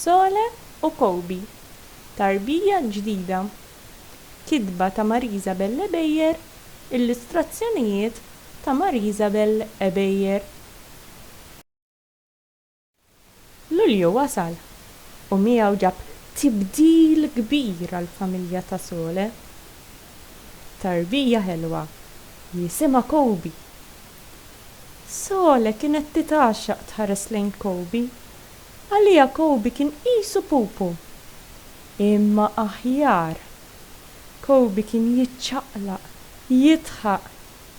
Sole u Kobe, Tarbija l-ġdida. Kitba ta' Marisabel Ebejer, illustrazzjonijiet ta' Marisabel Ebejer. Lulju wasal u miegħu ġab tibdil kbir għall-familja ta' Sole. Tarbija ħelwa li jisimha Kobe Sole kienet titgħaxxaq tħares lejn Kobe. Għaliha Kobe kien qisu pupu. Imma aħjar. Kobe kien jiċċaqlaq, jidħaq,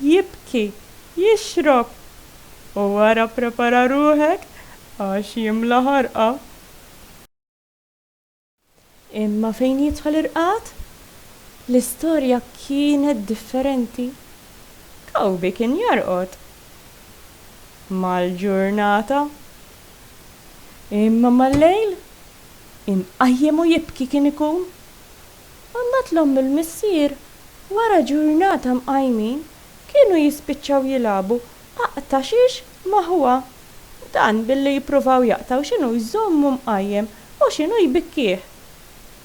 jibki, jixrob. U wara prepara ruħek għax jimla ħarqa. Imma fejn jidħol ir-qgħad, l-istorja kienet differenti. Toby kien jorqod mal-ġurnata, imma mal-lejl, imqajjem u jibki kien ikun. U mbagħad l-omm u l-missier, wara ġurnata mqajmin, kienu jispiċċaw jilagħbu aqta' xiex ma' ħuha. Dan billi jippruvaw jaqtgħu x'inhu jżommu mqajjem. u x'inhu jbikkih?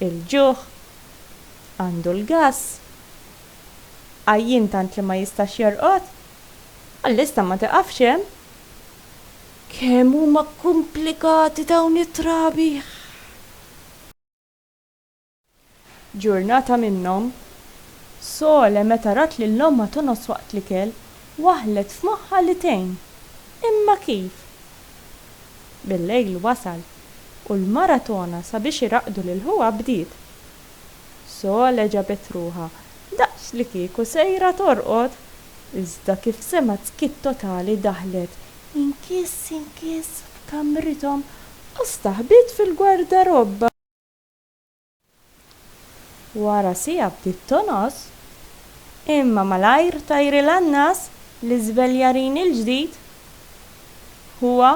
Il-ġuħ? Għandu l-gass? Għajjien tant li ma jistax jorqod? L-lista ma tiqafx hemm. Kemm huma kkumplikati dawn it-trabi! Ġurnata minnhom, Sole meta rat lil ommha tonqos waqt l-ikel, waħħlet f'moħħha li tgħin. Imma kif? Bil-lejl wasal, u l-maratona sabiex iraqqdu lil ħuha bdiet. Sole ġabet ruħha daqs li kieku sejra torqod, iżda kif semgħet skiet totali daħlet inkiss inkiss f'kamrithom u staħbiet fil-gwardarobba. Wara siegħa bdiet tonqos, imma malajr tajri l-annas li żveljarin il-ġdid ħuha.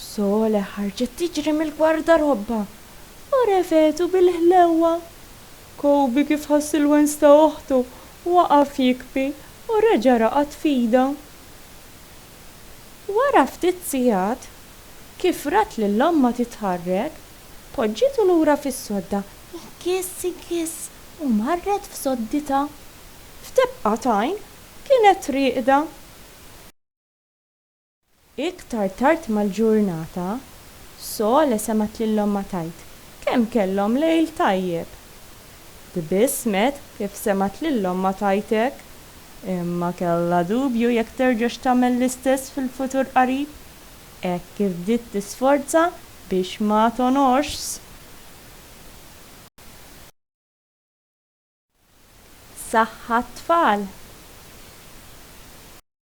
Sole ħarġet tiġri mill-gwardarobba u refgħetu bil-ħlewwa. Koby kif ħass il-wens ta' oħtu, waqaf jikbi u reġa' raqad f'idha. Wara ftit sigħat, kif rat lil ommha titħarrek, poġġitu lura fis-sodda, ikiss ikiss, u marret f'sodditha. F'tebqa t'għajn, kienet rieqda. Iktar tard mal-ġurnata, Sole semgħet lil ommha tgħid kemm kellhom lejl tajjeb. Tbissmet kif semgħet lil ommha tgħid hekk, imma kellha dubju jekk terġax tagħmel l-istess fil-futur qarib, hekk kif bdiet tisforza biex ma tonorsx. Saħħa t-tfal.